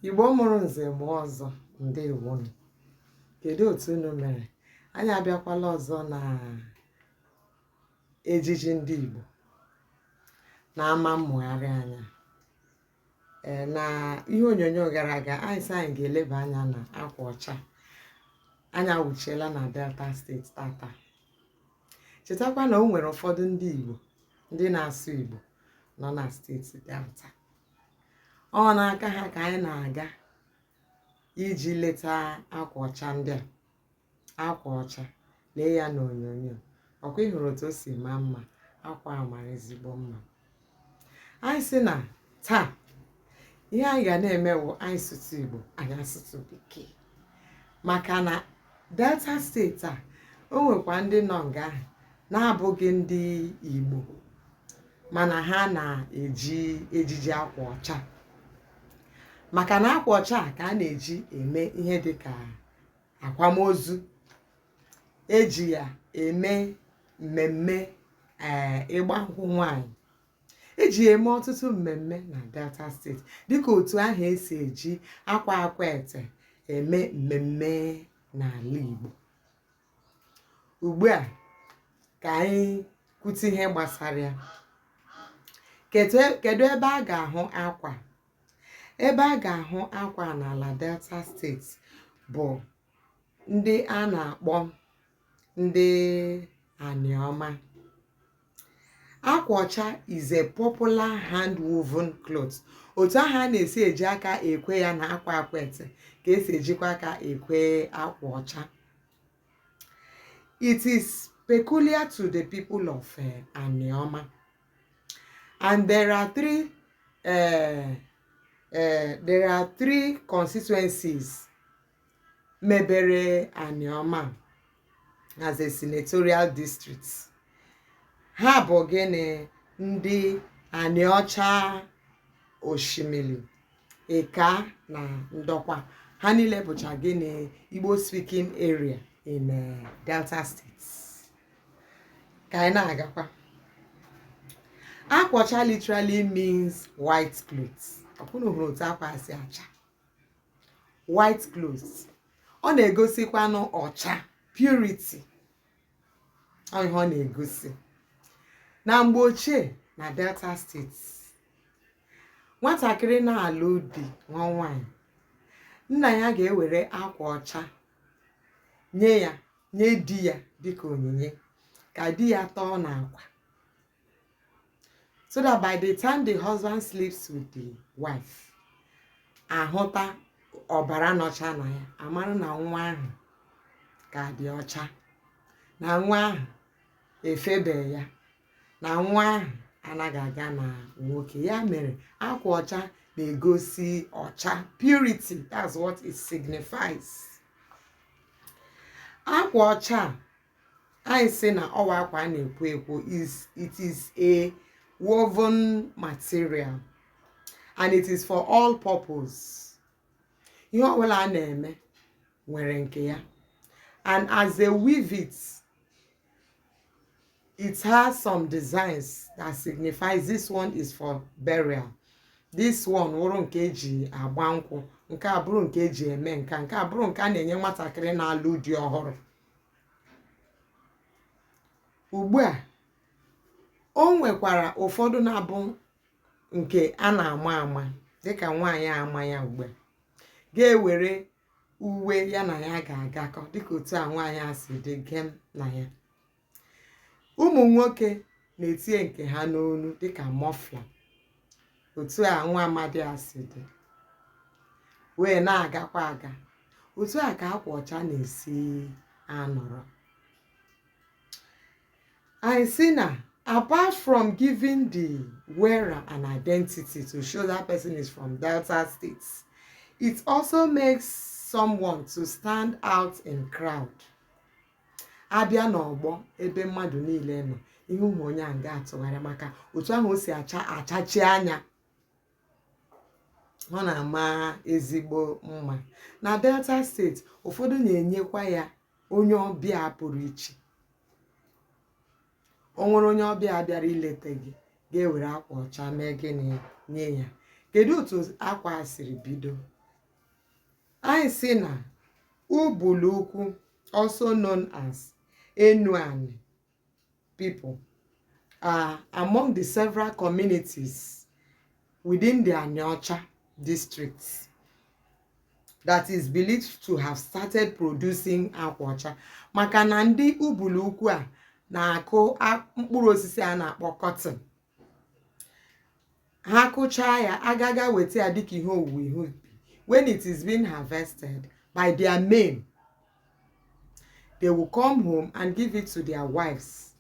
igbo mụrụ nze mụọ ọzọ ndewonu kedu otu unu mere anyị abịakwala ọzọ na ejiji ndị igbo na-ama mmụgharị anya ee na ihe onyonyo gara aga anyị sị anyị ga-eleba anya na akwa ọcha anyị awụchiela na delta state tata chetakwa na o nwere ụfọdụ ndị igbo ndị na-asụ igbo nọ na steeti delta ọ wụ n'aka ha ka anyị na-aga iji leta akwa ọcha ndị a akwa ọcha lee ya n'onyonyo ọkwa ị hụrụ otu o si maa mma akwa a mara ezigbo mma anyị sị na taa ihe anyị ga na-eme wụ anyị sụtụ igbo anyị asụtụ bekee maka na delta state a o nwekwa ndị nọ nga ahụ na-abụghị ndị igbo mana ha na-eji ejiji akwa ọcha maka na akwa ọcha ka a na-eji eme ihe dị ka akwamozu eji ya eme mmemme ee eh, ịgba nkwụ nwanyị eji ya eme ọtụtụ mmemme na delta state dịka otu ahụ esi eji akwa akwete eme mmemme n'ala igbo ugbu a ka anyị kwute ihe gbasara ya kedu ebe a ga-ahụ akwa ebe a ga-ahụ akwa n'ala delta state bụ ndị a na-akpọ ndị aniọma akwa ọcha is a popular hand woven cloth otu ahụ a na-esi eji aka ekwe ya na akwa akwete ka esi ejikwa aka ekwe akwa ọcha it is peculiar to the people of eh, aniọma and there are three uh, uh, there are three constituencies mebere Anioma as a senatorial district ha bụ gịnị ndị Anịọcha Oshimili Ika na Ndokwa ha niile bụcha gịnị Igbo speaking area in uh, Delta State ka anyị na-agakwa akwa ọcha literally means white cloth ọkwa ụnụ hụrụ otu akwa a si acha white cloth ọ na-egosikwanụ ọcha purity ọ ihe ọ na-egosi na mgbe ochie na delta state nwatakịrị na-alụ di nwa nwaanyị nna ya ga-ewere akwa ọcha nye ya nye di ya dịka onyinye ka di ya tọọ n'akwa so that by the time the husband sleeps with the wife a hụta ọbara nọcha na ya a mara na nwa ahụ ka dị ọcha na nwa ahụ efebe ya na nwa ahụ anaghị aga na nwoke ya mere akwa ọcha na-egosi ọcha purity that's what it signifies akwa ọcha anyị sị na ọ wụ akwa a na-ekwo ekwo it is a woven material and it is for all purpose ihe ọbụla a na-eme nwere nke ya and as they weave it it has some designs that signifies this one is for burial this one wụrụ nke e ji agba nkwụ nke a bụrụ nke e ji eme nke a nke a bụrụ nke a na-enye nwatakịrị na-alụ di ọhụrụ ugbu a o nwekwara ụfọdụ na-abụ nke a na-ama ama dịka nwaanyị a ma ya ugbu a ga-ewere uwe ya na ya ga-agakọ dịka otu a nwaanyị a si dị gem na ya ụmụ nwoke na-etinye nke ha n'onu dịka muffler otu a nwa amadị a si dị wee na-agakwa aga otu a ka akwa ọcha na-esi anọrọ anyị sị na apart from giving the wearer an identity to show that person is from Delta State, it also makes someone to stand out in crowd. a bịa n'ọgbọ ebe mmadụ niile nọ ihe ụmụ onye a ga-atụgharị maka otu ahụ o si achachi anya ọ na-ama ezigbo mma na delta state ụfọdụ na-enyekwa ya onye ọbịa pụrụ iche o nwere onye ọbịa bịara ileta gị ga-ewere akwa ọcha mee gịnị nye ya kedu otu akwa a siri bido anyị sị na ubulu ukwu also known as enuanị people are among the several communities within the Aniocha district that is believed to have started producing akwa ọcha maka na ndị ubulu ukwu a na-akụ a- mkpụrụ osisi a na-akpọ cotton ha kụchaa ya a ga-aga weta ya dịka ihe owuwe ihe ubi when it is being harvested by their men they will come home and give it to their wives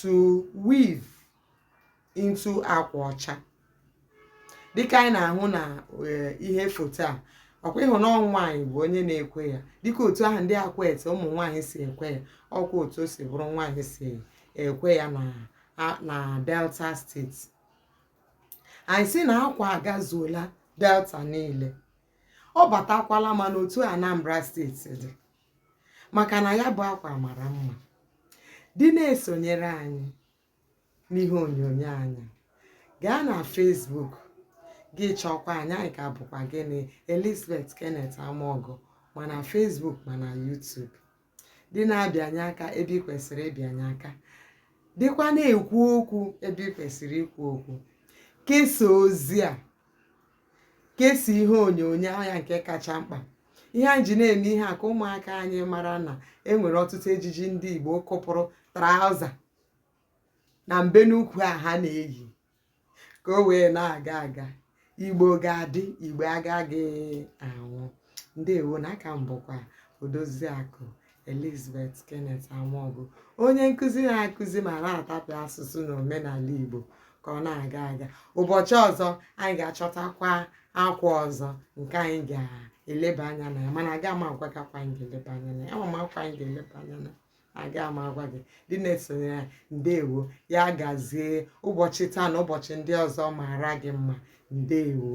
to weave into akwa ọcha dịka anyị na-ahụ na eh, ihe foto a ọkwa ị hụ na nwaanyị bụ onye na-ekwe ya dịka otu ahụ ndị akwete ụmụ nwaanyị si ekwe ya ọkwa otu o si bụrụ nwaanyị si ekwe ya na na delta steeti anyị sị na akwa agazuola delta niile ọ batakwala ma n'otu anambra steeti dị maka na ya bụ akwa mara mma dị na-esonyere anyị n'ihe onyonyo anyị gaa na Facebook gị chọkwa anyị anyị ka bụkwa gịnị Elizabeth Kenneth Amaọgụ ma na Facebook ma na YouTube dị na-abịanye aka ebe ị kwesịrị ịbịanye aka dịkwa na-ekwu okwu ebe ị kwesịrị ikwu okwu kesaa ozi a kesaa ihe onyonyo anyị a nke kacha mkpa ihe anyị ji na-eme ihe a ka ụmụaka anyị mara na e nwere ọtụtụ ejiji ndị Igbo kụpụrụ traụza na mbe n'ukwu a ha na-eyi ka o wee na-aga aga igbo ga-adị igbo agaghị anwụ ndewo na a ka m bụkwa odoziakụ elizabeth kenneth amaọgụ onye nkụzi na-akụzi ma na-atapịa asụsụ na omenala igbo ka ọ na-aga aga ụbọchị ọzọ anyị ga-achọtakwa akwa ọzọ nke anyị ga-eleba anya na ya mana aga m agwa gị akwa anyị ga-eleba anya na ya ama m akwa anyị ga-eleba anya na ya aga m agwa gị dị na-esonyere ya ndewo ya gazie ụbọchị taa na ụbọchị ndị ọzọ maara gị mma ndewo